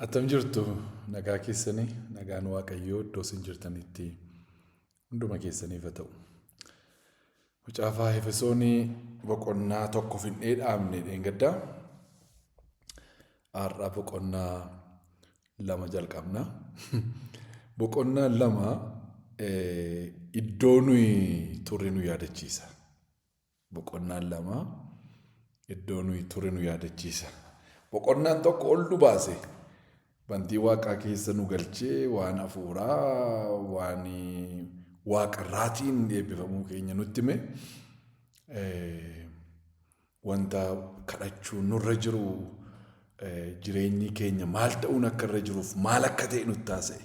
Attam jirtu nagaa keessanii nagaan waaqayyoo iddoo isin jirtanitti hunduma keessaniif haa ta'u. Mucaafaa Efesoonii boqonnaa tokko finnee dhaabne dheengaddaa har'a boqonnaa lama jalqabna. Boqonnaa lama iddoo nuyi turre nu yaadachiisa. Boqonnaan lama iddoo nuyi ture nu yaadachiisa. Boqonnaan tokko ol nu baase. Bantii waaqaa keessa nu galchee waan hafuuraa, waan waaqarraatiin eebbifamuu keenya nutti hime. Eh, Wanta kadhachuu nurra jiru eh, jireenyi keenya maal ta'uun akka irra jiruuf maal akka ta'e nutti taasise.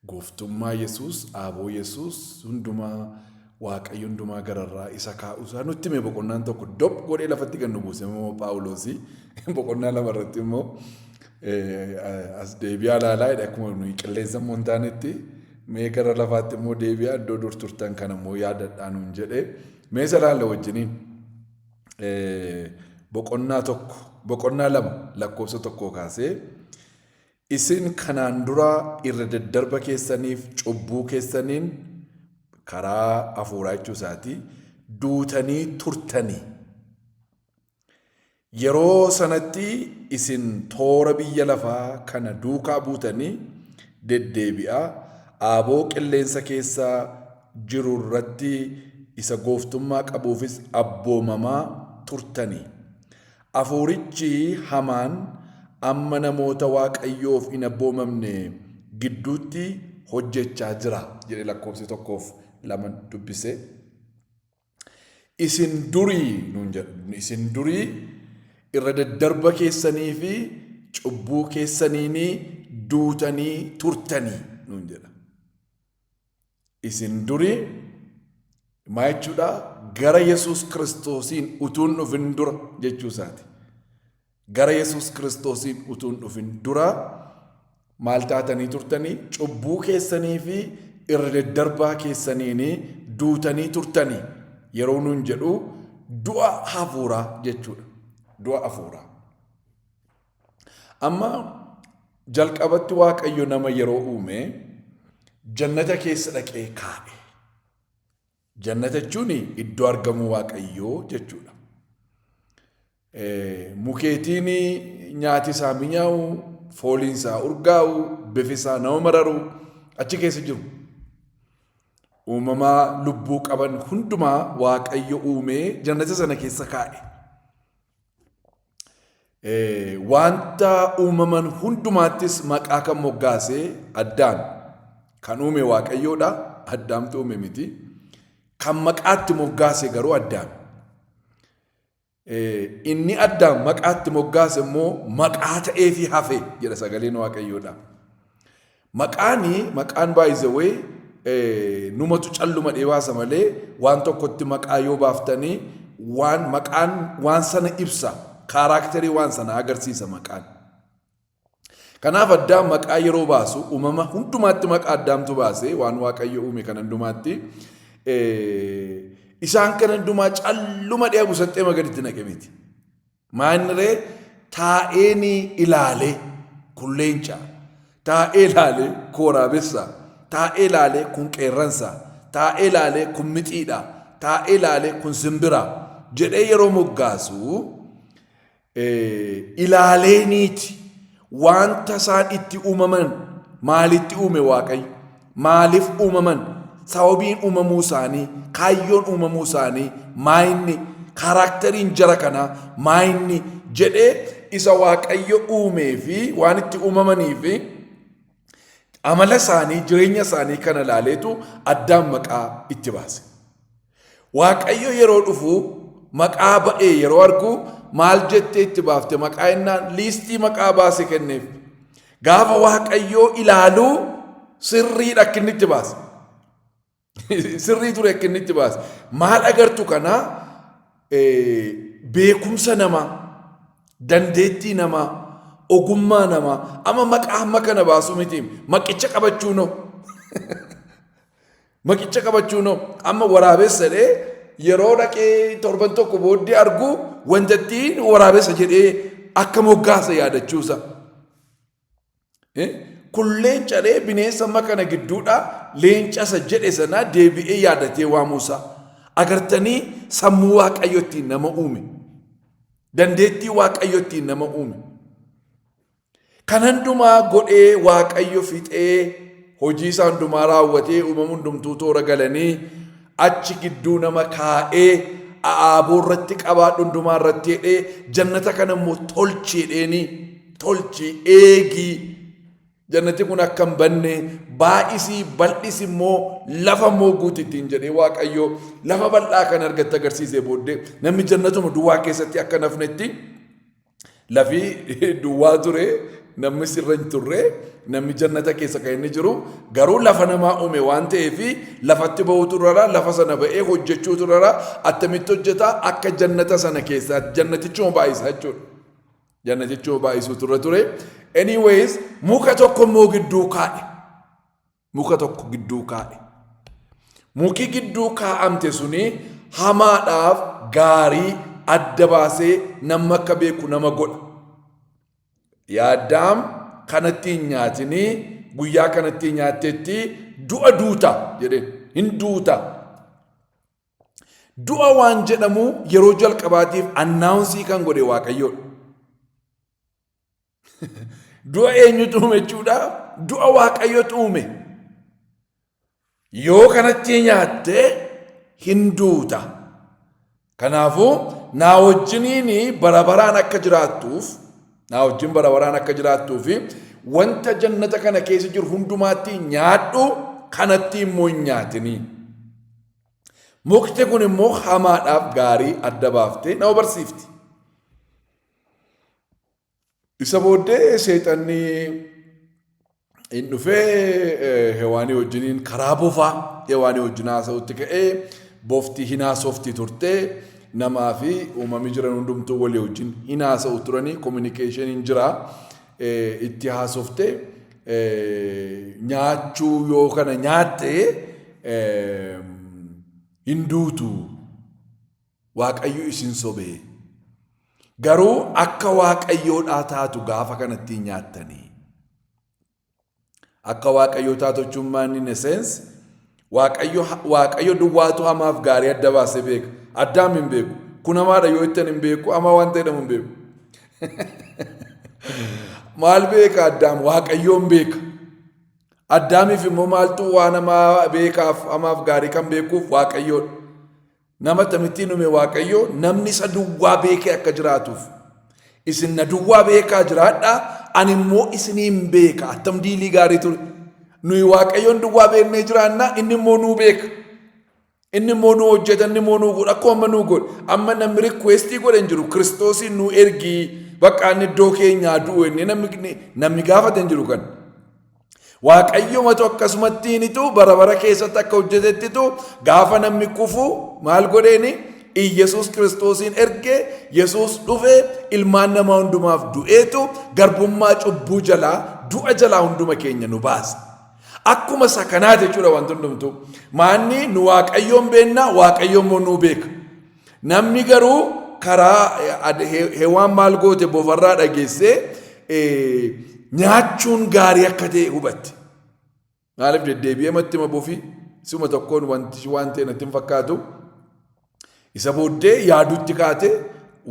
Gooftummaa Yesuus, aaboo Yesuus hundumaa Waaqayyo hundumaa gararraa isa kaa'uusaa nutti hime boqonnaan tokko dop godhee lafatti kan nu buuse immoo Phaawuloosii boqonnaa lama irratti immoo as deebi'aa ilaalaa jedhe akkuma nuyi qilleensa immoo hin taanetti mee gara lafaatti immoo deebi'aa iddoo dur turtan kana immoo yaadadhaa nuun jedhe mee isa ilaalla wajjiniin boqonnaa tokko boqonnaa lama lakkoofsa tokkoo kaasee Isin kanaan dura irra daddarba keessaniif cubbuu keessaniin, karaa hafuuraa jechuu isaati, duutanii turtani. Yeroo sanatti isin toora biyya lafaa kana duukaa buutanii deddeebi'aa aaboo qilleensa keessa jiru irratti isa gooftummaa qabuufis abboomamaa turtani. Afuurichi hamaan amma namoota Waaqayyoof hin abboomamne gidduutti hojjechaa jira jedhe lakkoofsi tokkoof laman dubbise. Isin durii nuun jedha. Isin durii irra daddarba keessanii fi cubbuu keessaniinii duutanii turtanii nuun jedha. Isin durii maa jechuudha gara Yesuus Kiristoosiin utuun dhufin dura jechuu isaati. Gara Yesuus Kiristoosiin utuun dhufin dura maal taatanii turtanii cubbuu keessanii fi irra daddarbaa keessaniin duutanii turtanii yeroo nuun jedhu du'a hafuuraa jechuudha. Du'a hafuuraa. Amma jalqabatti Waaqayyo nama yeroo uume jannata keessa dhaqee kaa'e. Jannata jechuun iddoo argamuu Waaqayyoo jechuudha. Eh, Mukeetiin nyaati isaa minyaa'u, fooliin isaa urgaa'u, bifi isaa nama mararu achi keessa jiru. Uumamaa lubbuu qaban hundumaa Waaqayyo uumee jannata sana keessa kaa'e. Wanta uumaman hundumaattis maqaa kan moggaase Addaam. Kan uume Waaqayyoodha, Addaamtu uume miti. Kan maqaatti moggaase garuu Addaam. Inni Addaam maqaatti moggaase immoo maqaa ta'eefi hafe jedha sagaleen Waaqayyoodha. Maqaani maqaan by the way numatu calluma dhee baasa malee waan tokkotti maqaa yoo baaftanii waan maqaan waan sana ibsa kaaraakterii waan sana agarsiisa maqaan. Kanaaf addaam maqaa yeroo baasu uumama hundumaatti maqaa addaamtu baase waan waaqayyo uume kan hundumaatti isaan kan hundumaa calluma dhee busaxxee magaritti naqe miti. Maa inni ree taa'ee ni ilaalee kun leencaa taa'ee ilaalee kun waraabessaa taa'ee ilaalee kun qeerransaa taa'ee ilaalee kun mixiidhaa taa'ee ilaalee kun simbiraa jedhee yeroo moggaasu ilaaleeniiti Wanta isaan itti uumaman maalitti uume Waaqayyo? Maaliif uumaman? Sababiin uumamuu isaanii, kaayyoon uumamuu isaanii maayinni, kaaraakteriin jara kanaa maayinni jedhee isa Waaqayyo uumee fi waan itti uumamanii fi amala isaanii, jireenya isaanii kana ilaaleetu addaan maqaa itti baase. Waaqayyo yeroo dhufu maqaa ba'ee yeroo argu maal jettee itti baafte maqaa innaan liistii maqaa baase kenneef. Gaafa Waaqayyoo ilaalu sirriidha akka inni itti baase. Sirrii ture akka inni itti baase. Maal agartu kana beekumsa namaa, dandeettii namaa, ogummaa namaa amma maqaa amma kana baasuu miti maqicha qabachuu noo. Maqicha qabachuun hoo amma waraabessa jedhee yeroo dhaqee torban tokko booddee argu wantattiin waraabessa jedhee akka moggaasa yaadachuusa. Eh? Kun leenca dhee bineensa amma kana gidduudha leencasa jedhe sana deebi'ee yaadatee waamuusa. Agartanii sammuu waaqayyottiin nama uume. Dandeettii waaqayyottiin nama uume. Kan handumaa godhee Waaqayyo fixee hojii isaa hundumaa raawwatee uumamu hundumtuu toora galanii achi gidduu nama kaa'ee aaboo irratti qabaadhu hundumaa irratti jedhee jannata kana immoo tolchi jedheeni tolchi eegii jannati kun akka hin banne baay'isii bal'is immoo lafa immoo guuti ittiin jedhee waaqayyo lafa bal'aa kan argatte agarsiisee booddee namni jannatuma duwwaa keessatti akka nafnetti Lafi duwwaa ture namni sirra hin turre namni jannata keessa kan inni jiru garuu lafa namaa uume waan ta'eef lafatti ba'uutu irra lafa sana ba'ee hojjechuutu irra attamitti hojjeta akka jannata sana keessa jannatichuma baay'isaa jechuudha. Jannatichuma baay'isuutu irra ture. Anyways muka tokko immoo gidduu kaa'e. muka tokko gidduu kaa'e. Muki gidduu kaa'amte suni hamaadhaaf gaarii adda baasee namni akka beeku nama godha. Yaa Addaam kanatti hin nyaatinii guyyaa kanatti nyaattetti du'a duuta jedheen hin duuta. Du'a waan jedhamu yeroo jalqabaatiif annaawunsii kan godhe waaqayyoodha. Du'a eenyutu uume jechuudha? Du'a Waaqayyotu uume. Yoo kanatti nyaatte hin duuta. Kanaafuu naa wajjiniin bara baraan akka jiraattuuf naa wajjin bara baraan akka jiraattuu fi wanta jannata kana keessa jiru hundumaatti nyaadhu kanatti immoo hin nyaatinii. Mukti kun immoo hamaadhaaf gaarii adda baaftee nama barsiifti. Isa booddee seexanni hin dhufee hewaanii wajjiniin karaa bofaa hewaanii wajjin haasa'utti ka'ee bofti hin haasofti turte namaa fi uumamii jiran hundumtuu walii wajjin hin haasa'u turanii kominikeeshiniin jira itti haasofte nyaachuu yoo kana nyaatte hin duutu Waaqayyo isin sobee. Garuu akka waaqayyoodhaa taatu gaafa kanattii nyaattanii. Akka waaqayyoo taatu jechuun maanni in a sense waaqayyo waaqayyo duwwaatu hamaaf gaarii adda baasee beeka. Addaam hin beeku. Kun hamaadha yoo ittan hin beeku hamaa waan ta'e jedhamu hin beeku. Maal beeka addaam waaqayyoon beeka. Addaamiif immoo maaltu waan hamaa beekaaf hamaaf gaarii kan beekuuf waaqayyoodha. Nama akkamittiin uume Waaqayyo namni isa duwwaa beekee akka jiraatuuf. Isin na duwwaa beekaa jiraadhaa ani immoo isiniin beeka attam diilii gaarii ture. Nuyi Waaqayyoon duwwaa beeknee jiraannaa inni immoo nuu beeka. Inni immoo nuu hojjeta inni immoo nuu godha akkuma amma nuu godhe. Amma namni rikweestii godhe hin jiru kiristoosiin nuu ergii bakka inni iddoo keenyaa du'u inni namni namni gaafate hin jiru kan. Waaqayyomatu akkasumatti hinitu bara bara keessatti akka hojjetettitu gaafa namni kufu maal godheeni Iyyasuus kiristoosiin erge Yesuus dhufe ilmaan namaa hundumaaf du'eetu garbummaa cubbuu jalaa du'a jalaa hunduma keenya nu baase. Akkuma isa kanaa jechuudha wanti hundumtu. Maanni nu waaqayyoon beennaa waaqayyoon immoo nuu beeka. Namni garuu karaa hewaan maal goote bofarraa dhageessee nyaachuun gaarii akka ta'e hubatte. Maaliif deddeebi'ee matti ma bofi suma tokkoon wanti waan ta'e natti hin fakkaatu. Isa booddee yaadutti kaate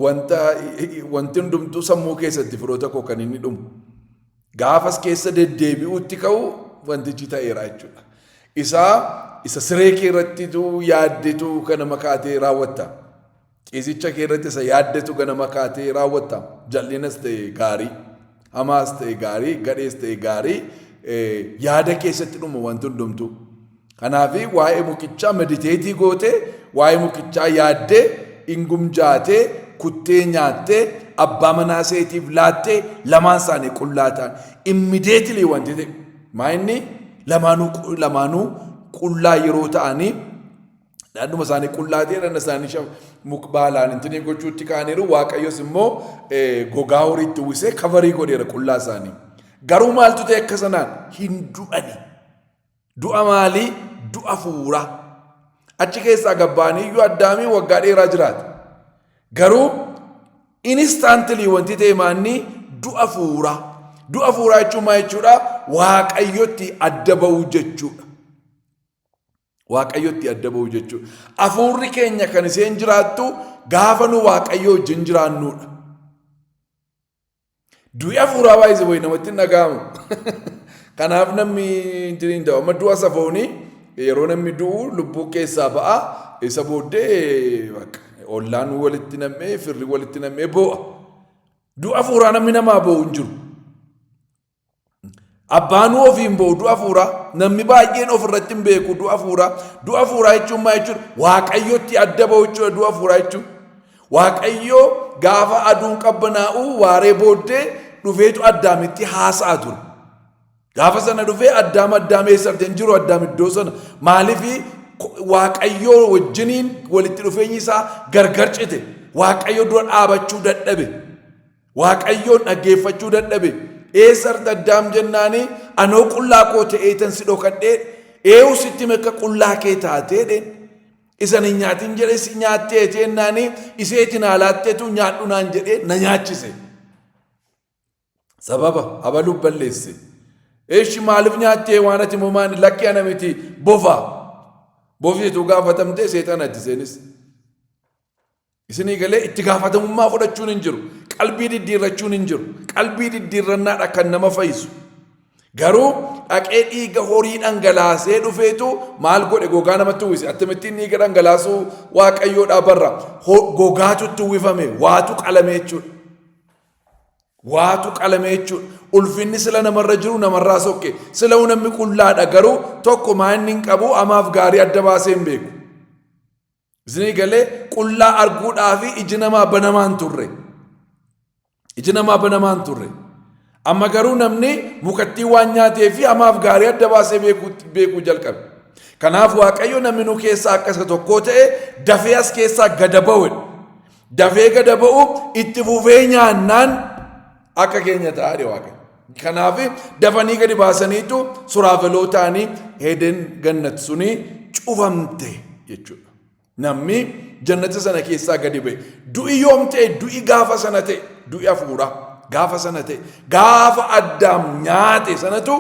wanta wanti hundumtuu sammuu keessatti firoota koo kan inni dhumu. Gaafas keessa deddeebi'uutti ka'u wantichi ta'eera jechuudha. Isaa isa siree kee irrattitu yaaddetu ganama kaatee raawwatta. Ciisicha kee irratti isa yaaddetu ganama kaatee raawwatta. Jal'inas ta'e gaarii, hamaas ta'e gaarii, gadhees ta'e gaarii yaada keessatti dhuma wanti hundumtuu. Kanaaf waa'ee mukichaa mediteetii gootee waa'ee mukichaa yaaddee ingumjaatee kuttee nyaattee abbaa manaa seetiif laattee lamaan isaanii qullaa ta'an immideetilii wanti ta'e maa inni lamaanuu lamaanuu qullaa yeroo ta'anii dhadhuma isaanii qullaa ta'e dhadhuma isaanii mukbaalaan intinii gochuutti kaaniiru waaqayyos immoo gogaa horiitti uwwisee kavarii godheera qullaa isaanii garuu maaltu ta'e akka sanaan hin du'anii. Du'a maalii? Du'a fuuraa. Achi keessaa gabbaanii iyyuu addaamiin waggaa dheeraa jiraata. Garuu inistaantilii wanti ta'e maannii du'a fuuraa. Du'a fuuraa jechuun maal jechuudha? Waaqayyotti adda ba'uu jechuudha. Waaqayyotti adda ba'uu jechuudha. Afuurri keenya kan isheen jiraattu gaafa nu waaqayyoo wajjin jiraannuudha. Du'i hafuuraa baay'ise wayi namatti hin dhaga'amu. Kanaaf namni hin jiru hin ta'u. Amma du'a safoonii yeroo namni du'u lubbuu keessaa ba'a. Isa booddee bakka ollaan walitti nam'ee firri walitti nam'ee boo'a. Du'a hafuuraa namni namaa boo'u hin jiru. Abbaanuu ofiin ba'u du'a fuuraa namni baay'een ofirratti hin beeku du'a fuuraa du'a fuuraa jechuun maa jechuudha waaqayyotti adda ba'u jechuudha du'a fuuraa jechuun waaqayyoo gaafa aduun qabbanaa'u waaree booddee dhufeetu addaamitti haasa'a ture. Gaafa sana dhufee addaam addaam eessa argee hin jiru addaam iddoo sana maaliif waaqayyoo wajjiniin walitti dhufeenyi isaa gargar cite waaqayyo dura dhaabachuu dadhabe. Waaqayyoo dhaggeeffachuu dadhabe. Eessarta addaam jennaani anoo qullaa koo ta'eetan si dhokadhee eewu sitti mekka qullaa kee taateedhe. Isan hin nyaatin jedhe si nyaattee teennaani iseeti naa laatteetu nyaadhu naan jedhee na nyaachise. Sababa abaluuf balleesse. Eeshi maaliif nyaattee waan ati moomaan lakkee ana miti bofa. Bofti utuu gaafatamtee seexanatti seenis. Isinii galee itti gaafatamummaa fudhachuun hin jiru. Qalbii diddiirrachuun hin jiru. Qalbii diddiirrannaadha kan nama fayyisu. Garuu dhaqee dhiiga horii dhangalaasee dhufeetu maal godhe gogaa namatti uwwise. Akkamittiin dhiiga dhangalaasuu waaqayyoodhaa barra. Ho- Gogaatu itti uwwifame waatu qalame jechuudha. Waatu qalame jechuudha. Ulfinni sila namarra jiru namarraa sokke. Sila namni qullaadha garuu tokko maa inni hin qabu amaaf gaarii adda baasee hin beeku. Isinii galee qullaa arguudhaa fi iji namaa banamaan turre. Iji namaa banamaan turre. Amma garuu namni mukattii waan nyaatee fi hamaaf gaarii adda baasee beekuu jalqabe. Kanaaf Waaqayyo namni nu keessaa akka isa tokkoo ta'e dafee as keessaa gada ba'u. Dafee gada ba'u itti fufee nyaannaan Akka keenya ta'a jedhe Waaqayyo. Kanaaf dafanii gadi baasaniitu suraafelootaanii Eden gannat suni cufamte jechuudha. Namni jannata sana keessaa gadi ba'e. Du'i yoom ta'e du'i gaafa sana ta'e du'i hafuuraa gaafa sana ta'e gaafa addaam nyaate sanatu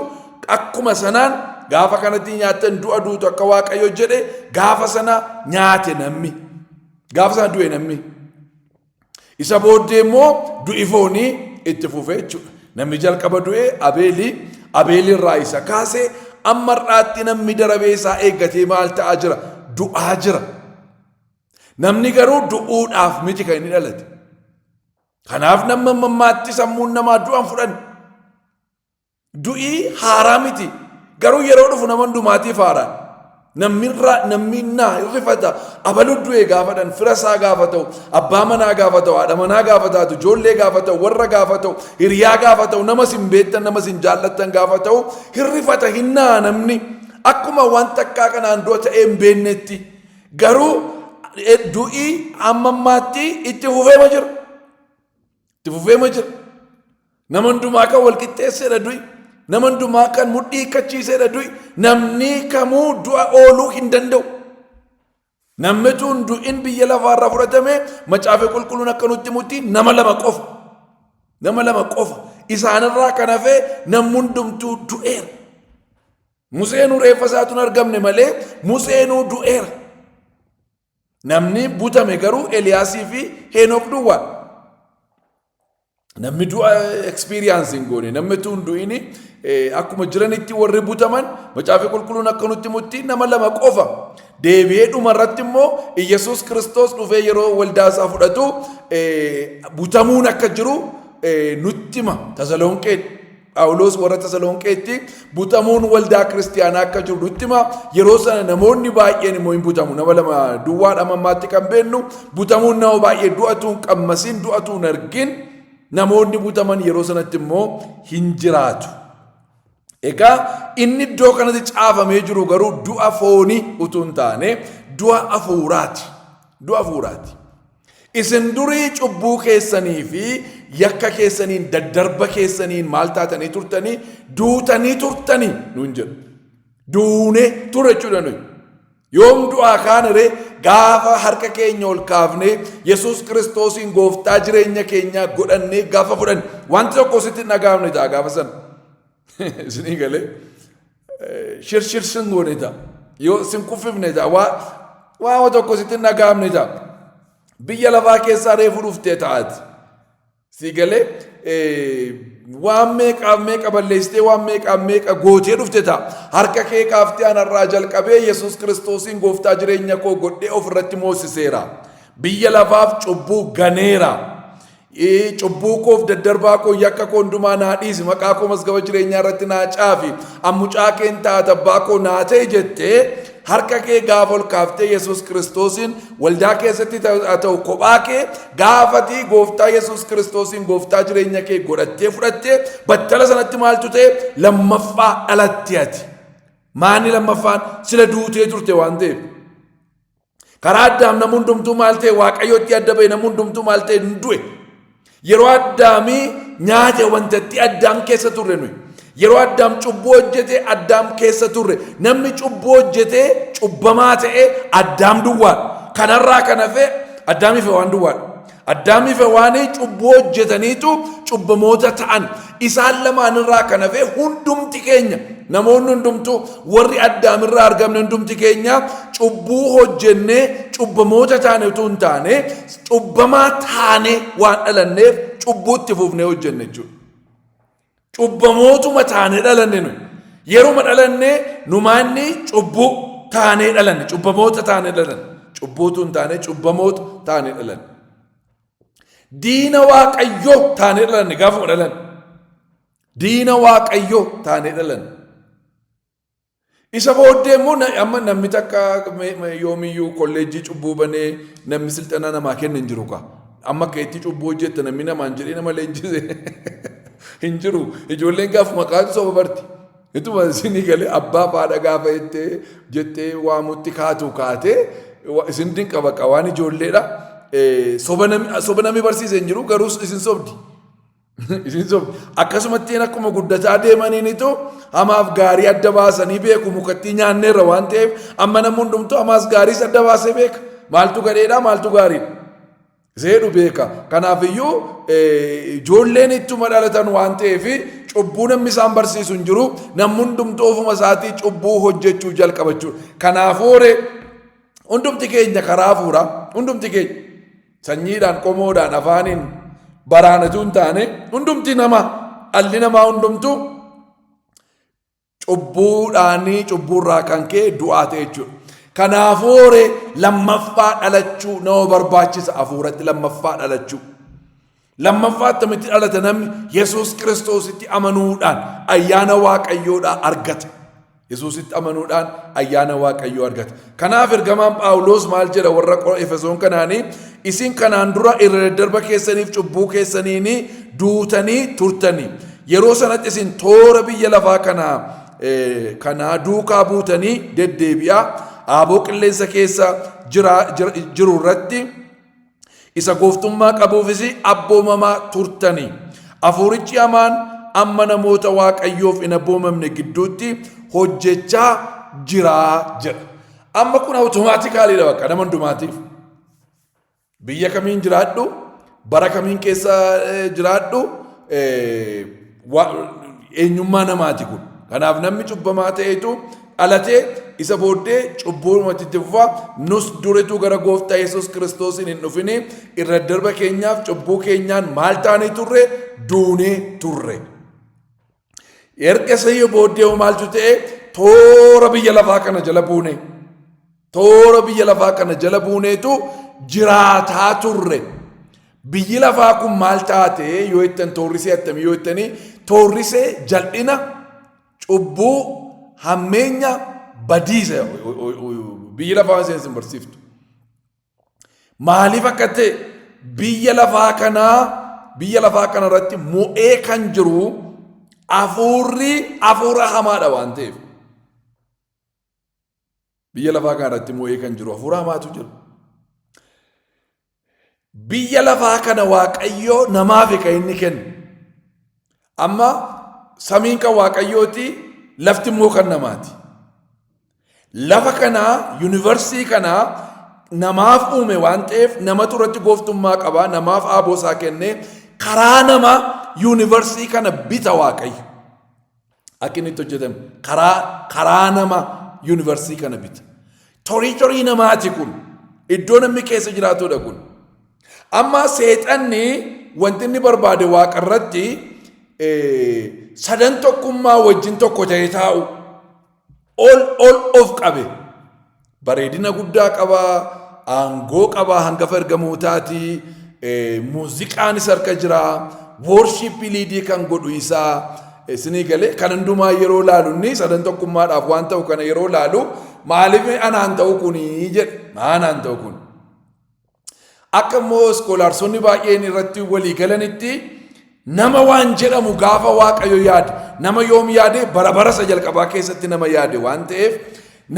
akkuma sanaan gaafa kanatti nyaattan du'a duutu akka waaqayyo jedhe gaafa sana nyaate namni. Gaafa sana du'e namni. Isa booddee immoo du'i foonii itti fufe jechuudha. Namni jalqaba du'e Abeeli, Abeeli irraa isa kaase amma har'aatti namni darabee isaa eeggatee maal ta'aa jira? Du'aa jira. Namni garuu du'uudhaaf miti kan inni dhalate. Kanaaf namni mammaatti sammuun namaa du'an fudhan. Du'i haaraa miti. Garuu yeroo dhufu nama hundumaatiif haaraa. Namni irraa namni naa hin rifata abaluu du'e gaafa dhan fira isaa gaafa ta'u abbaa manaa gaafa ta'u haadha manaa gaafa taatu ijoollee gaafa ta'u warra gaafa ta'u hiriyaa gaafa ta'u nama sin beektan nama sin jaallattan gaafa ta'u hin rifata hin naa namni akkuma waan takkaa kanaan du'a ta'ee hin beeknetti garuu eh, du'i amma ammaatti itti fufeema jira. Itti fufeema jira. Nama hundumaa kan wal qixxeesseedha du'i. Nama hundumaa kan mudhii hiikkachiiseedha du'i. Namni kamuu du'a ooluu hin danda'u. Namni tun du'in biyya lafaarraa fudhatame macaafa qulqulluun akka nutti mutti nama lama qofa. Nama lama qofa. Isaanirraa kan hafee namni hundumtuu du'eera. Museenuu reeffa isaatu hin argamne malee Museenuu du'eera. Namni butame garuu Eliyaasii fi Heenook duwwaa. Namni du'a experience hin goone, namni utuu hin du'in eh, akkuma jiranitti warri butaman macaafni qulqulluun akka nutti mutti nama lama qofa. Deebi'ee dhuma irratti immoo Iyyasuus Kiristoos dhufee yeroo waldaa isaa fudhatu eh, butamuun akka jiru eh, nutti hima. Tasalonqeen Phaawulos warra Tasalonqeetti butamuun waldaa kiristiyaanaa akka jiru nutti hima. Yeroo sana namoonni baay'een immoo hin butamu. Nama lama duwwaadha amma ammaatti kan beennu butamuun nama baay'ee du'atu hin qammasiin du'atu hin argin namoonni butaman yeroo sanatti immoo hin jiraatu. Egaa inni iddoo kanatti caafamee jiru garuu du'a foonii utuu hin taane du'a hafuuraati. Du'a hafuuraati. Isin durii cubbuu keessanii fi yakka keessaniin daddarba keessaniin maal taatanii turtanii duutanii turtanii nuun jedhu. Duune ture jechuudha nuyi. Yoom du'aa kaanire gaafa harka keenya ol kaafnee Yesuus Kiristoosiin gooftaa jireenya keenyaa godhannee gaafa fudhanne wanti tokko sitti hin dhagahamne ta'a gaafa sana. Isinii galee shir shir sin goone ta'a. Yoo sin kuffifne ta'a. Waa waama tokko sitti hin dhaga'amne ta'a. Biyya lafaa keessaa reefu dhuftee ta'aati. Si galee waan meeqaaf meeqa balleessitee waan meeqaaf meeqa gootee dhufte ta'a. Harka kee kaaftee anarraa jalqabee Yesuus Kiristoosiin gooftaa jireenya koo godhee ofirratti moosiseera. Biyya lafaaf cubbuu ganeera. Cubbuu koof daddarbaa koo yakka koo hundumaa naa dhiisi maqaa koo mazgaba jireenyaa irratti naa caafi an mucaa kee hin taata abbaa koo naa ta'e jettee harka kee gaafa ol kaaftee Yesuus Kiristoosiin waldaa keessatti haa ta'u kophaa kee gaafatii gooftaa Yesuus Kiristoosiin gooftaa jireenya kee godhattee fudhattee battala sanatti maaltu ta'e lammaffaa dhalatte ati. Maanni lammaffaan sila duutee turte waan ta'eef. Karaa addaam namni hundumtuu maal ta'e waaqayyootti adda ba'e namni hundumtuu maal ta'e hin du'e. Yeroo addaamii nyaate wanta itti addaam keessa turre nuyi. Yeroo addaam cubbuu hojjete addaam keessa turre. Namni cubbuu hojjetee cubbamaa ta'e addaam duwwaadha. Kanarraa kan hafe addaamiif waan duwwaadha. Addaamii fi Hewaanii cubbuu hojjetaniitu cubbamoota ta'an. Isaan lamaan irraa kan hafe hundumti keenya namoonni hundumtuu warri Addaam irraa argamne hundumti keenya cubbuu hojjennee cubbamoota taane utuu hin taane cubbamaa taane waan dhalanneef cubbuu itti fufnee hojjenne jechuudha. Cubbamootuma taanee dhalanne nu. Yeruma dhalanne numaanni cubbuu taanee dhalanne. Cubbamoota taanee dhalanne. Cubbuutu hin taane cubbamoota taanee dhalanne. Diina waaqayyoo taanee dhalanne gaafuma dhalanne. Diina waaqayyoo taanee dhalanne. Isa booddee immoo na- amma namni takka me- me- yoomiyyuu kolleejjii cubbuu banee namni silxanaa namaa kenna hin jiru kaa. Amma akka itti cubbuu hojjetta namni namaan jedhee nama leenjise hin jiru. Ijoolleen gaaf maqaan soba barti. Ituma isinii galee abbaa faadha gaafa jettee jettee waamutti kaatu kaatee wa- isin dinqa baqa waan ijoolleedha. Eh, Soba nami soba nami barsiise hin jiru garuu isin sobdi. Isin sobe. Akkasumattiin akkuma guddataa deemaniinitu hamaaf gaarii adda baasanii beeku mukattii nyaanneerra waan ta'eef amma namni hundumtuu hamaas gaariis adda baasee beeka. Maaltu gadheedha maaltu gaariidha. Seedhu beeka. Kanaafiyyuu eh, ijoolleen ittuma dhalatan waan ta'eef cubbuu namni isaan barsiisu hin jiru. Namni hundumtuu ofuma isaatii cubbuu hojjechuu jalqaba jechuudha. Kanaafuu hooree hundumti keenya karaa hafuuraa hundumti keenya. Sanyiidhaan, qomoodhaan, afaaniin, baraan utuu hin taane hundumti nama dhalli namaa hundumtu cubbuudhaanii cubbuurraa kan ka'e du'aa ta'e jechuudha. Kanaafuu horee lammaffaa dhalachuu nama barbaachisa hafuuratti lammaffaa dhalachuu. Lammaffaa attamitti dhalata namni Yesuus Kiristoositti amanuudhaan ayyaana Waaqayyoodhaa argata. Yesuusitti amanuudhaan ayyaana Waaqayyoo argata. Kanaaf ergamaan Phaawuloos maal jedha warra Efesoon kanaanii isin kanaan dura irra daddarba keessaniif cubbuu keessaniin duutanii turtanii yeroo sanatti isin toora biyya lafaa kanaa kanaa duukaa buutanii deddeebi'aa aaboo qilleensa keessa jiru irratti isa gooftummaa qabuufis abboomamaa turtani. Hafuurichi hamaan amma namoota Waaqayyoof hin abboomamne gidduutti hojjechaa jira jedha. Amma kun awutomaatikaaliidha bakka nama hundumaatiif. Biyya kamiin jiraadhu, bara kamiin keessa eh, jiraadhu, eh, eenyummaa namaati kun. Kanaaf namni cubbamaa ta'etu dhalatee isa booddee cubbuumatti itti fufaa nus durituu gara gooftaa Yesuus Kiristoosiin hin dhufini irra darba keenyaaf cubbuu keenyaan maal taanee turre duunee turre. Erga isa booddee maaltu ta'e toora biyya lafaa kana jala buune. Toora biyya lafaa kana jala buuneetu jiraataa turre. Biyyi lafaa kun maal taate yoo jettan toorrisee attamii yoo jettanii toorrisee jal'ina, cubbuu, hammeenya, badiisa biyyi lafaa waan seensin barsiiftu. Maaliif akka ta'e biyya lafaa kanaa biyya lafaa kana irratti mo'ee kan jiru hafuurri hafuura hamaadha waan ta'eef. Biyya lafaa kana irratti moo'ee kan jiru hafuura hamaatu jira. Biyya lafaa kana waaqayyoo namaafi kan inni kennu. Amma samiin kan waaqayyooti lafti immoo kan namaati. Lafa kanaa yuunivarsiitii kanaa namaaf uume waan ta'eef namatu irratti gooftummaa qaba namaaf aaboo isaa kenne karaa nama yuunivarsiitii kana bita waaqayyo. Akka inni itti hojjetame karaa karaa nama yuunivarsiitii kana bite. Toriitorii namaati kun. Iddoo namni keessa jiraatudha kun. Amma seexanni wanti inni barbaade waaqa irratti sadan tokkummaa wajjin tokko ta'ee taa'u ol ol of qabe. Bareedina guddaa qaba, aangoo qaba, hangafa ergamootaati, muuziqaanis harka jira, woorshiippii liidii kan godhu isaa isinii galee kan hundumaa yeroo laalu inni sadan tokkummaadhaaf waan ta'u kana yeroo laalu maaliif anaan ta'u kuni jedhe anaan ta'u kun Akka immoo iskoolaarsonni baay'een irratti walii galanitti nama waan jedhamu gaafa waaqayyo yaade nama yoom yaade bara bara isa jalqabaa keessatti nama yaade waan ta'eef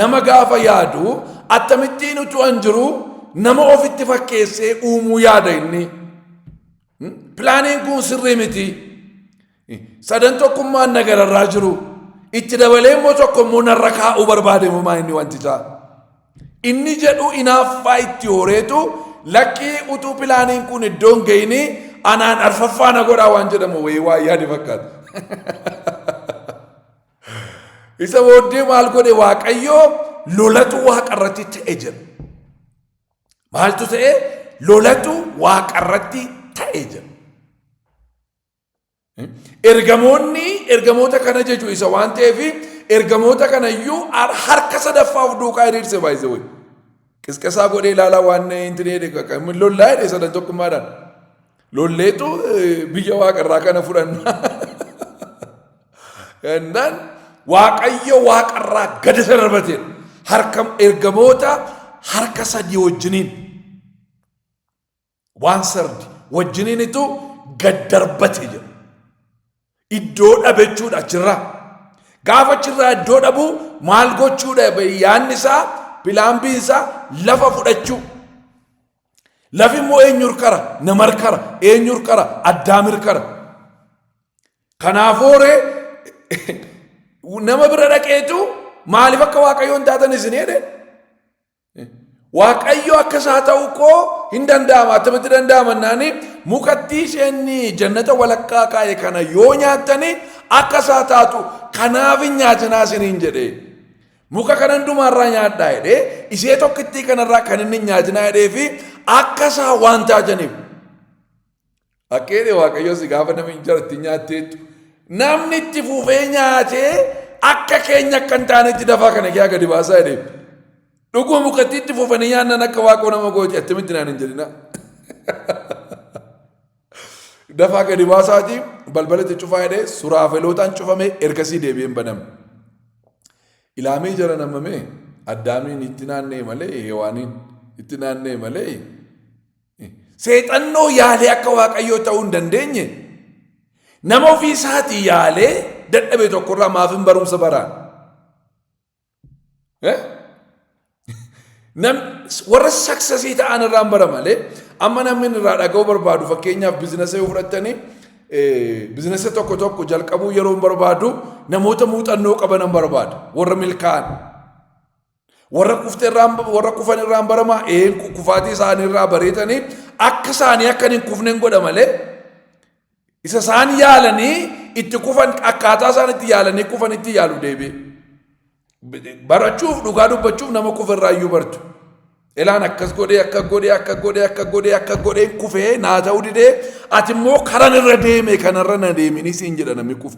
nama gaafa yaadu attamittiin utuu an jiru nama ofitti fakkeessee uumuu yaada inni. Pilaaniin kun sirrii miti. Sadan tokkummaan na gararraa jiru. Itti dabalee immoo tokko immoo narra kaa'uu barbaade homaa inni wanti isaa. Inni jedhu inaaffaa itti horeetu lakkii utuu pilaaniin kun iddoon ga'inii anaan arfaffaa na godhaa waan jedhamu wayii waa yaade fakkaata. Isa booddee maal godhe waaqayyoo lolatu waaqa irratti ta'e jedha. Maaltu ta'e? Lolatu waaqarratti ta'e jedha. Ergamoonni ergamoota kana jechuun isa waan ta'eef ergamoota kana iyyuu harka sadaffaa of duukaa hiriirse baay'ise wayii. Qisqasaa godhee ilaalaa waan hin tireedhe lollaa jedhe sadan tokkummaadhaan. Lolleetu biyya waaqa irraa kana fudhanna. Innaan waaqayyo waaqa irraa gadi isa darbatee harka ergamoota harka sadii wajjiniin waan sardi wajjiniinitu gad darbate jedha. iddoo dhabe jechuudha achirraa. Gaafa achirraa iddoo dhabu maal gochuudha yaadni isaa pilaan biin isaa lafa fudhachuu. Lafi immoo eenyu hirkara nama hirkara eenyu hirkara addaam hirkara. Kanaafuu ree nama bira dhaqeetu maaliif akka waaqayyoon taatan isin jedhe Waaqayyo akka isaa ta'uu koo hin danda'ama attamitti danda'ama naani mukattii isheen jannata walakkaa kaa'e kana yoo nyaattani akka isaa taatu kanaaf hin nyaatinaa isiniin jedhee. Muka kana hundumaarraa nyaadhaa jedhee ishee tokkittii kanarraa kan inni hin nyaatinaa jedhee fi akka isaa waan taataniif. Fakkeenya Waaqayyoo si gaafa namni injera itti nyaatteettu namni itti fufee nyaatee akka keenya akka hin taanetti dafaa kana kee gadi baasaa jedhee dhuguma mukatti itti fufanii nyaannan akka waaqoo nama gooti attamitti naan hin jedhina. Dafaa gadi baasaati balbala itti cufaa jedhee suraafelootaan cufamee ergasii deebi'een baname. Ilaamee jara namamee addaamiin itti naannee malee heewaaniin itti naannee malee Seexannoo yaalee akka waaqayyoo ta'uu hin dandeenye nama ofii isaatii yaalee dadhabe tokkorraa maaf hin barumsa baraan? Warra saksasii ta'an irraa hin bara malee amma namni irraa dhaga'uu barbaadu fakkeenyaaf biizinasa yoo fudhattanii biizinasa tokko tokko jalqabuu yeroo hin barbaadu namoota muuxannoo qaban hin barbaadu warra milkaa'an. Warra kufte irraan warra kufan irraan barama een kufaatii isaanii irraa bareetanii akka isaanii akka hin kufnen godha malee isa isaan yaalanii itti kufan akkaataa isaan itti yaalanii kufan itti yaalu deebi'e. Barachuuf dhugaa dubbachuuf nama kufe irraa iyyuu bartu. Elaan akkas godhee akka godhee akka godhee akka godhee akka godhee kufee naa ta'uu didee ati immoo karan irra deeme kanarra na deeminii siin jedha namni kufe.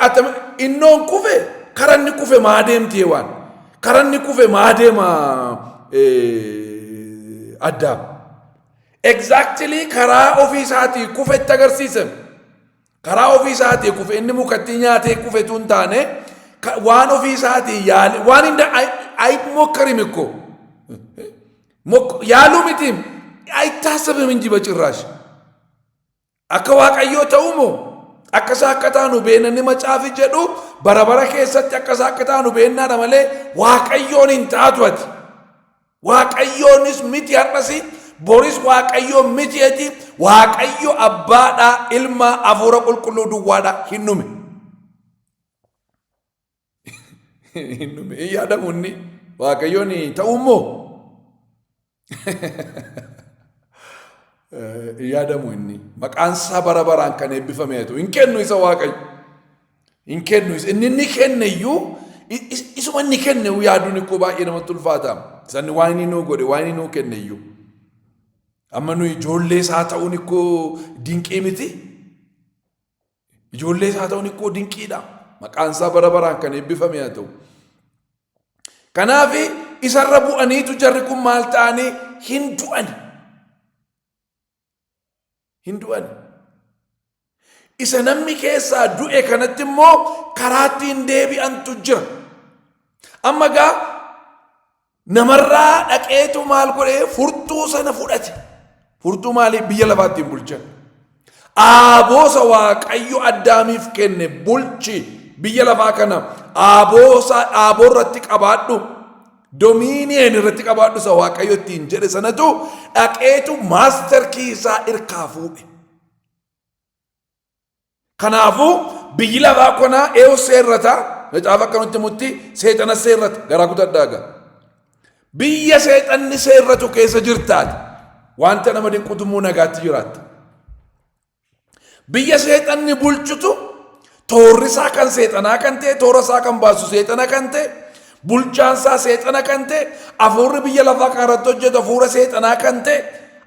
Attami innoon kufe karanni kufe maa deemti hewaan karanni kufe maa deema addaam. Exactly karaa ofii isaatii kufe itti agarsiisan. Karaa ofii isaatii kufe inni mukatti nyaatee kufe tun taane waan ofii isaatii yaale waan hin ayi mokkarim ikko. Yaaluu mitiim ayittaasabim hin jiba cirraash. Akka waaqayyoo ta'uu moo akka isaa akka taanu beena ni macaafi jedhu bara bara keessatti akka isaa akka taanu beennaadha malee waaqayyoon hin taatu ati. Waaqayyoonis miti har'asi boris waaqayyoo miti ati waaqayyo abbaadhaa ilmaa hafuura qulqulluu duwwaadhaa hin dhume. hin dhume hin yaadamu inni waaqayyoon ta'uu immoo hin yaadamu inni maqaan isaa bara baraan kan eebbifame haa ta'u hin kennu isa waaqayyo hin kennu isa inni inni kenne iyyuu i- is- isuma inni kenne iyyuu yaaduun ikkoo baay'ee namatti ulfaata sanni waan inni nuu godhe waan inni nuu kenne iyyuu amma nuyi ijoollee isaa ta'uun ikkoo dinqii miti Ijoollee isaa ta'uun ikkoo dinqiidha. Maqaan isaa bara baraan kan eebbifame haa ta'u. Kanaaf isarra bu'aniitu jarri kun maal ta'anii hin du'ani. Hin du'ani. Isa namni keessaa du'e kanatti immoo karaatti hin deebi'antu jira. Amma gaa Namarraa dhaqeetu maal godhee furtuu sana fudhate. Furtuu maalii biyya lafaattiin bulchan. Aaboosa waaqayyo addaamiif kenne bulchi biyya lafaa kana aaboosa dhaaboo irratti qabaadhu domiiniyeen irratti qabaadhu isa waaqayyo ittiin jedhe sanatu dhaqeetu maaster kiisaa irkaa fuudhe. Kanaafuu biyyi lafaa konaa eewu seerrata macaafa akka nutti mutti seexana seerrata garaa gudadhaa gaa. Biyya seexanni seerratu keessa jirtaati wanta nama dinqutu immoo nagaatti jiraatta. Biyya seexanni bulchutu toorri isaa kan seexanaa kan ta'e toora isaa kan baasu seexana kan ta'e Bulchaan isaa seexana kan ta'e, hafuurri biyya lafaa kana irratti hojjetu hafuura seexanaa kan ta'e,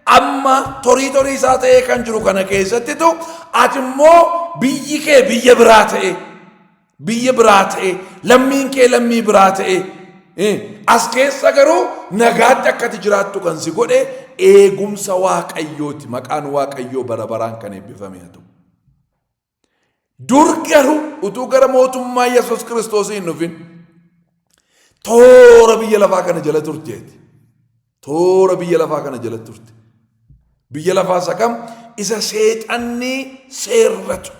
amma torii torii isaa ta'ee kan jiru kana keessattitu ati immoo biyyi kee biyya biraa ta'e, biyya biraa ta'e, lammiin kee lammii biraa ta'e. Eh, As keessa garuu nagaatti akkati jiraattu kan si godhe eegumsa waaqayyooti. Maqaan waaqayyoo bara baraan kan eebbifame haa ta'u. Dur garuu utuu gara mootummaa Yesuus Kiristoosii hin dhufin toora biyya lafaa kana jala turteeti. Toora biyya lafaa kana jala turte. Biyya lafaa isa kam? Isa seexanni seerratu.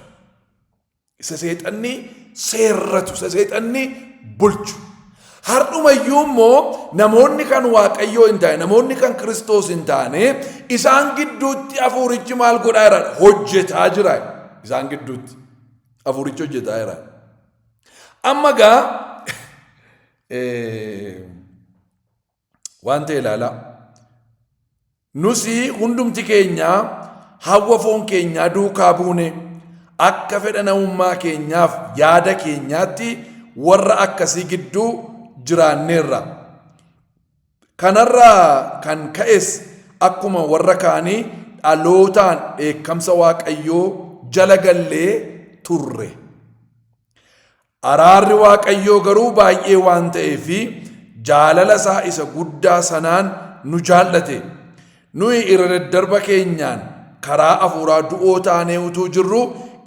Isa seexanni seerratu. Isa seexanni bulchu. Hardhuma iyyuu immoo namoonni kan Waaqayyoo hin taane, namoonni kan Kiristoos hin taane, isaan gidduutti hafuurichi maal godhaa jira? Hojjetaa jira. Isaan gidduutti hafuurichi hojjetaa jira. Amma gaa waan ta'e ilaalaa. Nus hundumti keenya hawwa foon keenyaa duukaa buune akka fedha namummaa keenyaaf yaada keenyaatti warra akkasii gidduu jiraanneerra. Kanarraa kan ka'es akkuma warra kaanii dhalootaan dheekkamsa Waaqayyoo jala gallee turre. Araarri Waaqayyoo garuu baay'ee waan ta'eef fi jaalala isaa isa guddaa sanaan nu jaallate. Nuyi irra daddarba keenyaan karaa hafuuraa du'oo taanee utuu jirruu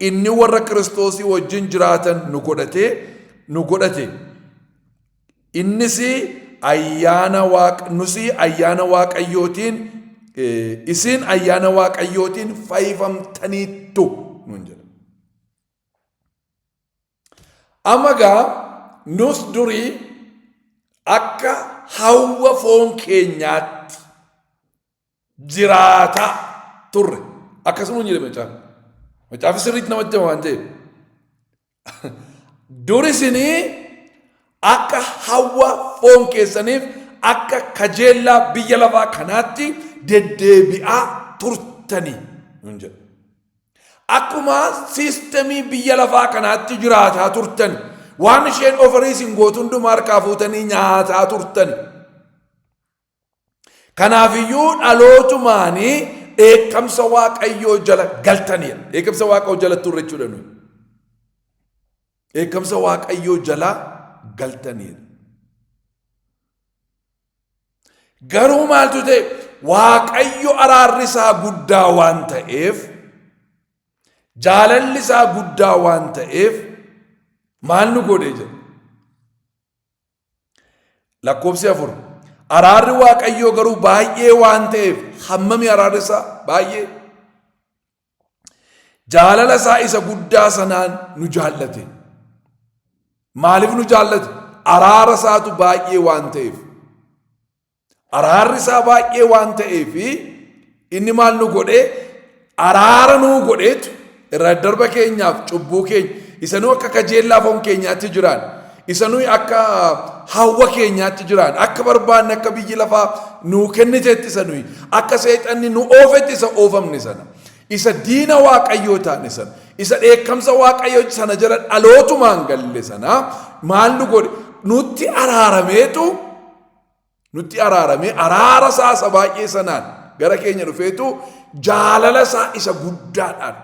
inni warra Kiristoosii wajjin jiraatan nu godhatee nu godhate. Innis ayyaana waaq nusi ayyaana waaqayyootiin eh, isin ayyaana waaqayyootiin fayyifamtaniittu nuun jedha. Amma gaa nus durii akka hawwa foon keenyaatti jiraataa turre akkasuma jedhe macaafi macaafi sirriitti namatti hima waan ta'eef duri isinii akka hawwa foon keessaniif akka kajeellaa biyya lafaa kanaatti deddeebi'aa turtanii nun jedha. Akkuma siistemii biyya lafaa kanaatti jiraataa turtan waan isheen ofirii isin gootu hundumaa harkaa fuutanii nyaataa turtan. Kanaafiyyuu dhalootumaanii dheekkamsa waaqayyoo jala galtaniidha. Dheekkamsa waaqayyoo jala turre jechuudha nuyi. Dheekkamsa waaqayyoo jala galtaniidha. Garuu maaltu ta'e waaqayyo araarri isaa guddaa waan ta'eef jaalalli isaa guddaa waan ta'eef maal nu godhe jedha. Lakkoofsi afur. Araarri waaqayyoo garuu baay'ee waan ta'eef hammami araarri isaa baay'ee Jaalala isaa isa guddaa sanaan nu jaallate. Maaliif nu jaallate? Araara isaatu baay'ee waan ta'eef. Araarri isaa baay'ee waan ta'eef inni maal nu godhee araara nuu godheetu irra darba keenyaaf cubbuu keenya isa nu akka kajeellaa foon keenyaatti jiraan isa nuyi akka hawwa keenyaatti jiraannu akka barbaanne akka biyyi lafaa nuu kennitetti isa nuyi akka seexanni nu oofetti isa oofamne sana isa diina waaqayyoo taane sana isa dheekkamsa waaqayyoo sana jala dhalootumaan galle sana maal nu godhe nutti araarameetu nutti araaramee araara isaa isa baay'ee sanaan gara keenya dhufeetu jaalala isaa isa guddaadhaan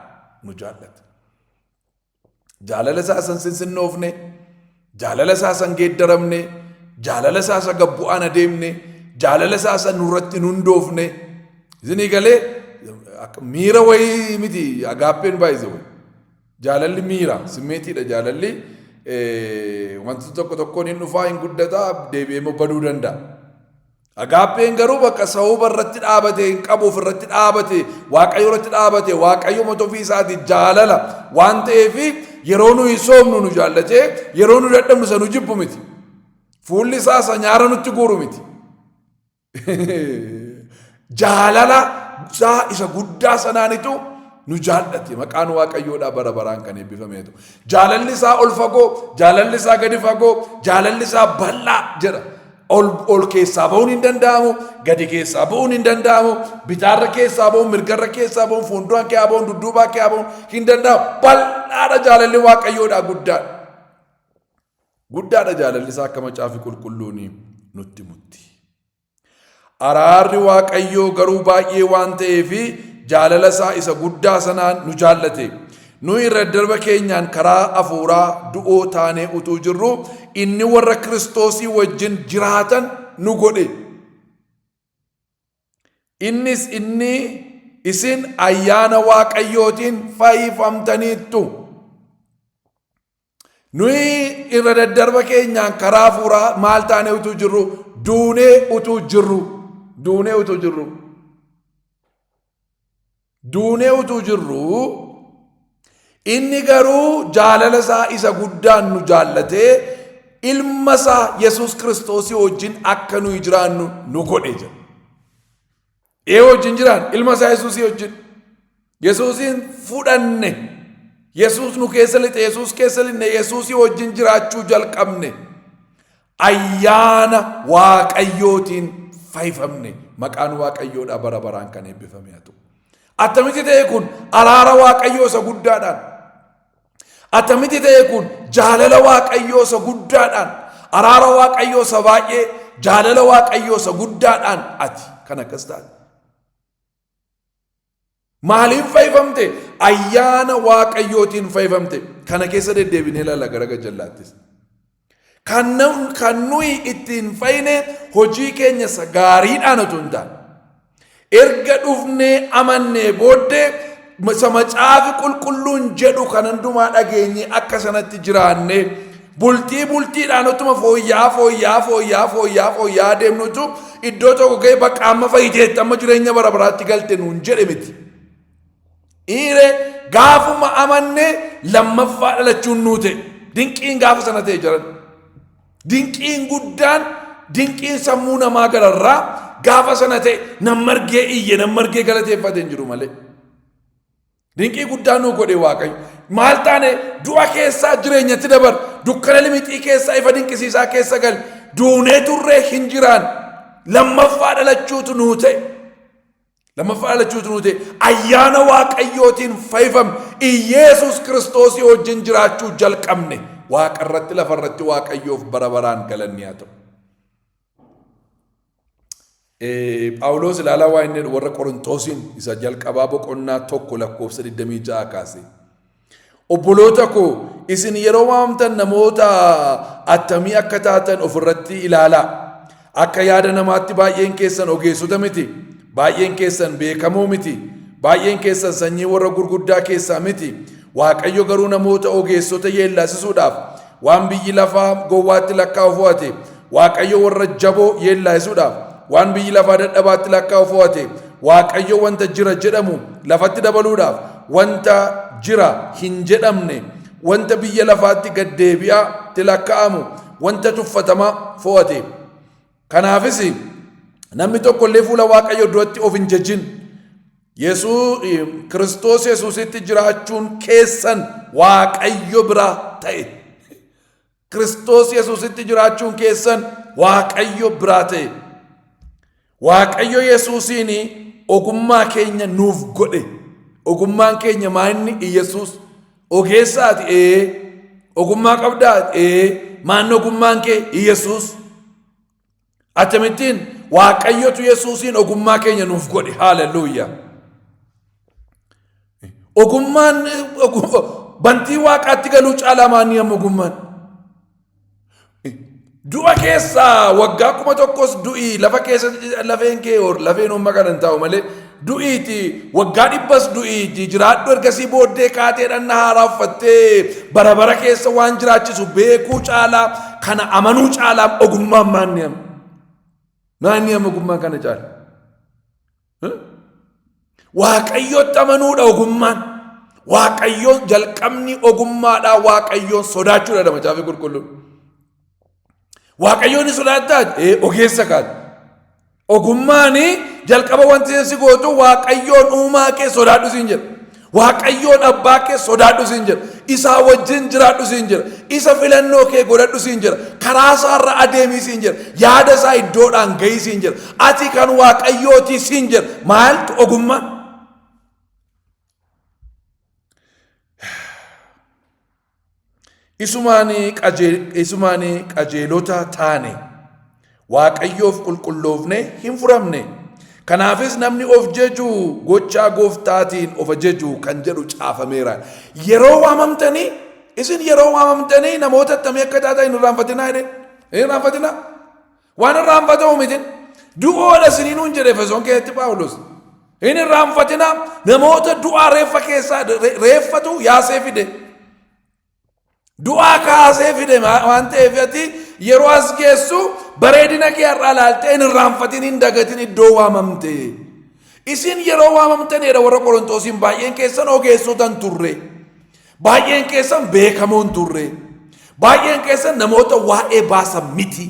nu jaallate. Jaalala isaa san sinsinnoofne, jaalala isaa san geeddaramne, jaalala isaa isa gabbu'aan adeemne, jaalala isaa san nurratti hin hundoofne. Isinii galee akka miira wayii miti agaappeen baay'ise wayi. Jaalalli miira simmeetiidha jaalalli eh, wanti tokko tokkoon hin dhufaa hin guddataa deebi'ee immoo baduu danda'a. Agaappeen garuu bakka sababa irratti dhaabate hin qabu ofirratti dhaabate waaqayyo irratti dhaabate waaqayyo mata ofii isaati jaalala waan ta'eef yeroo nuyi soomnu nu jaallatee yeroo nu dadhabnu isa nu jibbu miti. Fuulli isaa isa nyaara nutti guuru miti. Jaalala isaa isa guddaa sanaanitu nu jaallate maqaan waaqayyoodhaa bara baraan kan eebbifamee ta'u. Jaalalli isaa ol fagoo, jaalalli isaa gadi fagoo, jaalalli isaa bal'aa jedha. ol ol keessaa ba'uun hin danda'amu gadi keessaa ba'uun hin danda'amu bitaarra keessaa ba'uun mirgarra keessaa ba'uun fuulduraan kee ba'uun dudduubaa kee ba'uun hin danda'amu bal'aadha jaalalli waaqayyoodha guddaadha guddaadha jaalalli isaa akka macaafi qulqulluun nutti mutti Araarri Waaqayyoo garuu baay'ee waan ta'eef jaalala isaa isa guddaa sanaan nu jaallate. Nuyi irra daddarba keenyaan karaa hafuuraa du'oo taanee utuu jirru inni warra Kiristoosii wajjin jiraatan nu godhe. Innis inni isin ayyaana Waaqayyootiin fayyifamtaniittu. Nuyi irra daddarba keenyaan karaa hafuuraa maal taanee utuu jirru duunee utuu jirru duunee utuu jirru duunee utuu jirru inni garuu jaalala isaa isa guddaan nu jaallatee ilma isaa Yesuus Kiristoosii wajjin akka nuyi jiraannu nu godhe jedha. Ee wajjin jiraan ilma isaa Yesuusii wajjin. Yesuusiin fudhanne. Yesuus nu keessa lixe, Yesuus keessa linne, Yesuusii wajjin jiraachuu jalqabne. Ayyaana Waaqayyootiin fayyifamne. Maqaan Waaqayyoodhaa bara baraan kan eebbifame haa ta'u. Attamitti ta'e kun araara Waaqayyoo isa guddaadhaan. Attamitti ta'e kun jaalala Waaqayyoo isa guddaadhaan, araara Waaqayyoo isa baay'ee, jaalala Waaqayyoo isa guddaadhaan ati kan akkas taate. Maaliin fayyifamte? Ayyaana Waaqayyootiin fayyifamte. Kana keessa deddeebinee ilaalla gara gajjallaattis. Kan, na- kan nuyi ittiin fayyine hojii keenya isa gaariidhaan otoo hin taane. Erga dhufnee amannee booddee isa macaafi qulqulluun jedhu kan hundumaa dhageenye akka sanatti jiraanne bultii bultiidhaan utuma fooyya'aa fooyya'aa fooyya'aa fooyya'aa fooyya'aa deemnutu iddoo tokko ga'e bakka amma fayyiteetti amma jireenya bara baraatti galte nuun jedhe miti. Iire gaafuma amanne lammaffaa dhalachuun nuu ta'e. Dinqiin gaafa sana ta'e jiran. Dinqiin guddaan dinqiin sammuu namaa gararraa gaafa sana ta'e nan margee iyye nan margee galateeffate hin jiru malee. Dinqii guddaa nuu godhe waaqayyo. Maal taane du'a keessaa jireenyatti dabar dukkana limixii keessaa ifa dinqisiisaa keessa gal duunee turree hin jiraan lammaffaa dhalachuutu nuu ta'e. Lammaffaa dhalachuu utuu ta'e ayyaana waaqayyootiin fayyifamne Iyeesuus kiristoosii wajjin jiraachuu jalqabne waaqa irratti lafa irratti waaqayyoof bara baraan galanni haa ta'u. Phaawuloos ilaalaa waa inni warra Qorintoosiin isa jalqabaa boqonnaa tokko lakkoofsa 26 kaasee. Obboloota koo isin yeroo waamtan namoota attamii akka taatan ofirratti ilaalaa. Akka yaada namaatti baay'een keessan ogeessota miti. Baay'een keessan beekamoo miti. Baay'een keessan sanyii warra gurguddaa keessaa miti. Waaqayyo garuu namoota ogeessota yeellaasisuudhaaf Waan biyyi lafaa gowwaatti lakkaa'u fo'ate, Waaqayyo warra jaboo yeellaa'isuudhaaf. Waan biyyi lafaa dadhabaatti lakkaa'u fo'ate, Waaqayyo wanta jira jedhamu lafatti dabaluudhaaf, wanta jira hin jedhamne, wanta biyya lafaatti gad deebi'aatti lakkaa'amu, wanta tuffatamaa fo'ate. Kanaafis namni tokko illee fuula Waaqayyoo duratti of hin jajin. Yesuus Kiristoos Yesuusitti jiraachuun keessan Waaqayyo biraa ta'e. Kiristoos Yesuusitti jiraachuun keessan Waaqayyo biraa ta'e. Waaqayyo Yesuusiin ogummaa keenya nuuf godhe. Ogummaan keenya maayinni Iyyasuus Ogeessaati ee. Ogummaa qabdaa ee. Maanni ogummaan kee Yesuus. Akkamittiin waaqayyotu Yesuusiin ogummaa keenya nuuf godhe haaleluyyaa. Ogummaan bantii waaqaatti galuu caalaa maanni amma ogummaan. Du'a keessaa waggaa kuma tokkos du'i lafa keessatti lafeen kee or lafeen homma kana hin taa'u malee du'iiti waggaa dhibbas du'iiti jiraadhu ergasii booddee kaatee dhanna haaraa uffattee bara bara keessa waan jiraachisu beekuu caalaa kana amanuu caalaa ogummaan maanni amma maanni amma ogummaan kana caala. Waaqayyootti amanuudha ogummaan. Waaqayyoon jalqabni ogummaadhaa waaqayyoon sodaachuudha dha macaafni qulqulluun. Waaqayyoon ni sodaattaa? Ee ogeessa kaati. Ogummaan jalqaba wanti si gootu waaqayyoon uumaa kee sodaadhu siin jedha. Waaqayyoon abbaa kee sodaadhu siin jira. Isaa wajjin jiraadhu siin jira. Isa filannoo kee godhadhu siin jira. Karaa isaa irra adeemii siin jira. Yaada isaa iddoodhaan gahii siin jira. Ati kan waaqayyootii siin jira. Maaltu ogummaa? Isumaan qajeelota taane Waaqayyoof qulqulloofne hin furamne. Kanaafis namni of jeju gochaa gooftaatiin of ajeju kan jedhu caafameera. Yeroo waamamtanii isin yeroo waamamtanii namoota attamii akka taatan hin irraanfatinaa jedhe. Hin irraanfatinaa. Waan irraanfatamu miti. Du'oodha isinii nuun jedhe Efesoon keessatti Phaawulos. Hin irraanfatina namoota du'aa reeffa keessaa reeffatu yaasee fide. Du'aa kaasee fide waan ta'eef ati yeroo as geessu bareedina kee har'aa ilaaltee hin irraanfatin hin dagatin iddoo waamamte. Isin yeroo waamamtaneedha warra Qorontoosiin baay'een keessan ogeessotan turre. Baay'een keessan beekamoo hin turre. Baay'een keessan namoota waa'ee baasan miti.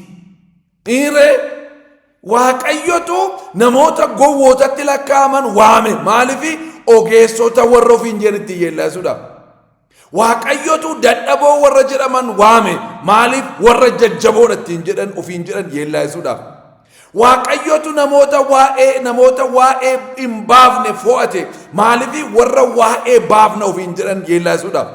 Dhiiree waaqayyotu namoota gowwootatti lakkaa'aman waame maaliif ogeessota warra ofiin jedhanitti yeellaasuudha. Waaqayyotu dadhaboo warra jedhaman waame maaliif warra jajjaboodha ittiin jedhan ofiin jedhan yeellaasuudhaaf. Waaqayyotu namoota waa'ee namoota waa'ee hin baafne fo'ate maaliif warra waa'ee baafna ofiin jedhan yeellaasuudhaaf.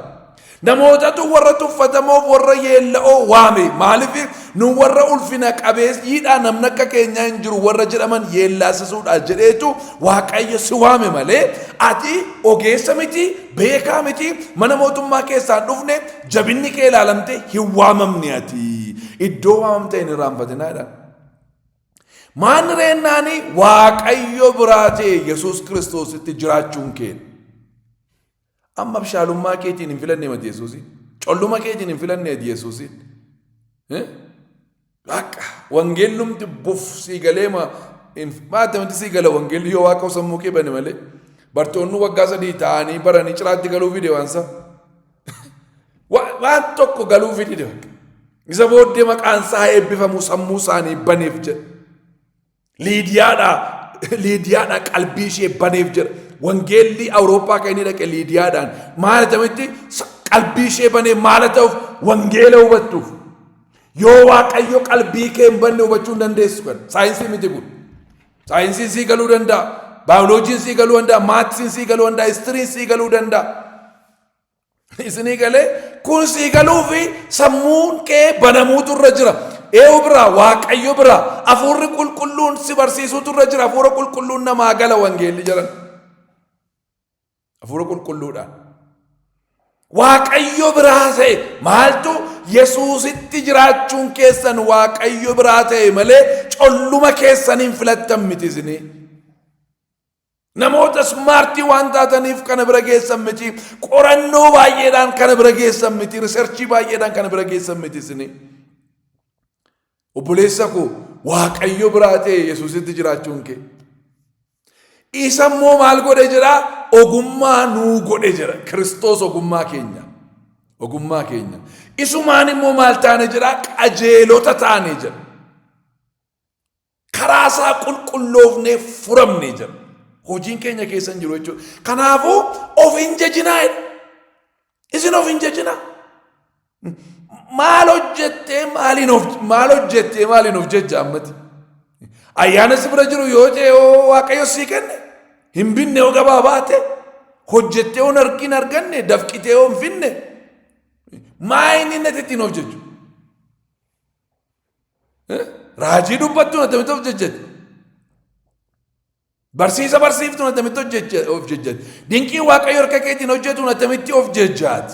Namootatu warra tuffatamoof warra yeella'oo waame maaliif nu warra ulfina qabeessiidhaa namni akka keenyaa hin jiru warra jedhaman yeellaasisuudha jedheetu waaqayyo si waame malee ati ogeessa miti beekaa miti mana mootummaa keessaa hin dhufne jabinni kee ilaalamte hin waamamne ati iddoo waamamte hin irraanfatinaa jedha. Maanni reennaani waaqayyo biraa ta'e Yesuus Kiristoositti jiraachuun keenya. Amma abshaalummaa keetiin hin filanne mati Yesuusi. Colluma keetiin hin filanne mati Yesuusi. Waaqa wangeellumti buf sii galee ma maata miti sii gala wangeelli yoo waaqa sammuu kee bane malee bartoonni waggaa sadii ta'anii baranii ciraatti galuu fi deewansa. Wa- waan tokko galuufi dide bakka. isa booddee maqaan isaa haa eebbifamu sammuu isaanii baneef jedha liidiyaadha liidiyaadha qalbii ishee baneef jedha wangeelli awurooppaa kan inni dhaqe liidiyaadhaan maal jedhametti Sa- qalbii ishee banee maal ta'uuf wangeela hubattuuf yoo waaqayyo qalbii kee hin banne hubachuu hin dandeessu kan saayinsii miti kun saayinsiin sii galuu danda'a baayoloojiin sii galuu danda'a maaksiin sii galuu danda'a histiriin sii galuu danda'a Isinii galee kun sii galuu fi sammuun kee banamuutu irra jira. Eewu biraa waaqayyo biraa hafuurri qulqulluun si barsiisuutu irra jira. Hafuura qulqulluun namaa gala wangeelli jedhan. Hafuura qulqulluudhaan. Waaqayyo biraa ta'e maaltu Yesuusitti jiraachuun keessan Waaqayyo biraa ta'e malee colluma keessaniin filattan miti isinii. Namoota smaartii waan taataniif kana bira geessan miti. Qorannoo baay'eedhaan kana bira geessan miti. Riserchii baay'eedhaan kana bira geessan miti isini. Obboleessa koo Waaqayyo biraa ta'e Yesuusitti jiraachuun kee. Isa immoo maal godhe jedhaa? Ogummaa nuu godhe jedha. Kiristoos ogummaa keenya. Ogummaa keenya. Isumaan immoo maal taane jedhaa? Qajeelota taane jedha. Karaa isaa qulqulloofnee furamne jedha. Hojiin keenya keessa hin jiru jechuudha. Kanaafuu of hin jajinaa jedha. Isin of hin jajinaa. Maal hojjettee maaliin of maal hojjettee maaliin of jajja ammati. Ayyaana si bira jiru yoo jee yoo waaqayyo sii kenne hin binne yoo gabaa baate hojjettee yoo nargiin arganne dafqitee yoo hin finne maa inni natti ittiin of jajju. Raajii dubbattuun attamitti of jejjetti? Barsiisa barsiiftuun attamitti hojjecha- of jejjetti? Dinqii waaqayyo harka keetiin hojjetuun attamitti of jejjaati?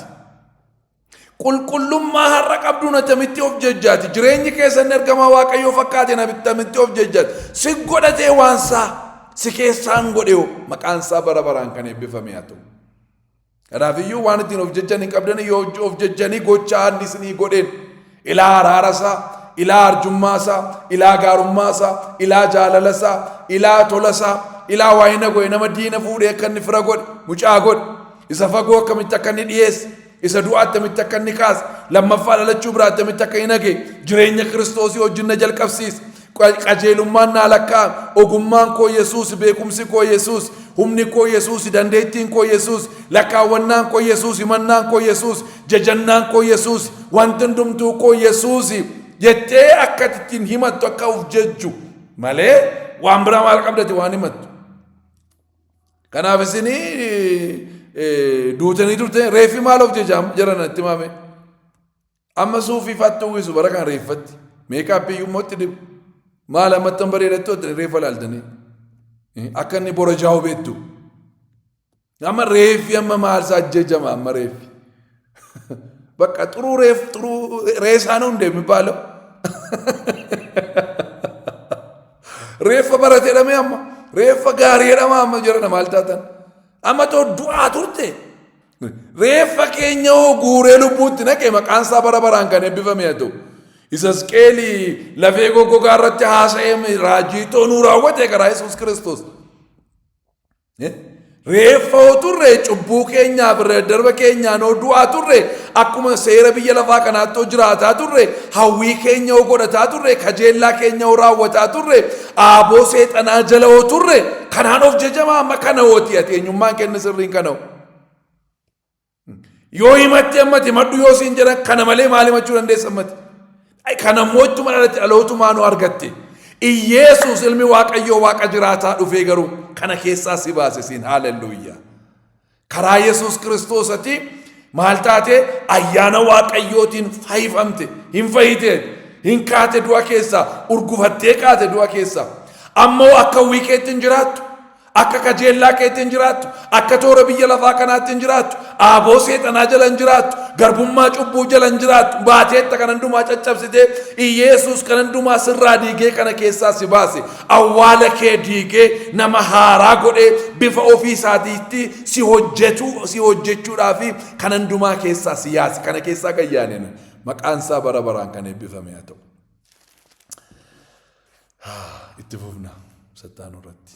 Qulqullummaa har'a qabduun attamitti of jejjaati? Jireenyi keessan ergamaa waaqayyoo fakkaateen attamitti of jejjaati? Si godhatee waan isaa si keessaan godheeho maqaan isaa bara baraan kan eebbifame haa ta'u. Kanaafiyyuu waan ittiin of jejjan hin qabdanii yoo of jejjanii gocha haalli isinii godheen ilaa araarasaa, ilaa arjummaasaa, ilaa gaarummaasaa, ilaa jaalalasaa, ilaa tolasaa, ilaa waayina godhe nama diina fuudhee akka inni fira godhe, mucaa godhe, isa fagoo akkamitti akka inni dhiyeesse, isa du'a attamitti akka inni kaase, lammaffaa dhalachuu biraa attamitti akka hin hage, jireenya kiristoosii wajjin na jalqabsiise. Qajeelummaan naa lakkaa'ame. Ogummaan koo Yesuusi, beekumsi koo Yesuusi, humni koo Yesuusi, dandeettiin koo Yesuusi, lakkaawwannaan koo Yesuusi, himannaan koo Yesuusi, jajannaan koo Yesuusi, wanti hundumtuu koo Yesuusi jettee akka ati ittiin himattu akka of jejju malee waan biraa maal qabdati waan himattu. Kanaaf isin duutanii turte reeffi maal of jejaa jedhan itti maame. Amma suufii faatti uwwisu bara kana reeffatti. Meekaappii iyyuu immoo itti dibu. Maal ammattan bareedattu itti reeffa laaltanii. Akka inni borajaa'u beektu. Amma reeffi amma maalsaa ajjejama amma reeffi. Bakka xuruu reef xuruu reesaan hundee mibaalo. Reeffa barate jedhamee amma reeffa gaarii jedhama amma jedhana maal taatan. Amma too du'aa turte Reeffa keenya hoo guuree lubbuutti naqe maqaan isaa bara baraan kan eebbifame haa ta'u. Isasqeeli lafee goggogaa irratti haasa'ee raajii ta'uu nuu raawwate karaa Yesuus Kiristoos. Reeffa hoo turre cubbuu keenyaaf darba keenyaan hoo du'aa turre akkuma seera biyya lafaa kanaatti hoo jiraataa turre hawwii keenya hoo godhataa turre kajeellaa keenya hoo raawwataa turre aaboo seexanaa jala hoo turre kanaan of jejamaa amma kana hooti ati eenyummaan kenna sirriin kana hoo. Yoo himatte ammati himadhu yoo siin jedhan kana malee maal himachuu dandeessa ammati? Kana mootummaa irratti dhalootumaa nu argatte. Iyyeesuus ilmi Waaqayyoo Waaqa jiraataa dhufee garuu kana keessaa si baase siin haalelluuyyaa. Karaa Yesuus Kiristoosati maal taate ayyaana Waaqayyootiin fayyifamte hin fayyite hin kaate du'a keessaa urgufattee kaate du'a keessaa ammoo akka wiikeetti hin jiraattu Akka kajeellaa keetti hin jiraattu. Akka toora biyya lafaa kanaatti hin jiraattu. Aaboo seexanaa jala hin jiraattu. Garbummaa cubbuu jala hin jiraattu. Baateetta kan hundumaa caccabsitee Iyeesuus kan hundumaa sirraa diigee kana keessaa si baase. Awwaala kee diigee nama haaraa godhee bifa ofii isaatiitti si hojjetu si hojjechuudhaa fi kan hundumaa keessaa si yaase. Kana keessaa kan yaane nu. Maqaan isaa bara baraan kan eebbifame haa ta'u. Itti fufna sattaanuu irratti.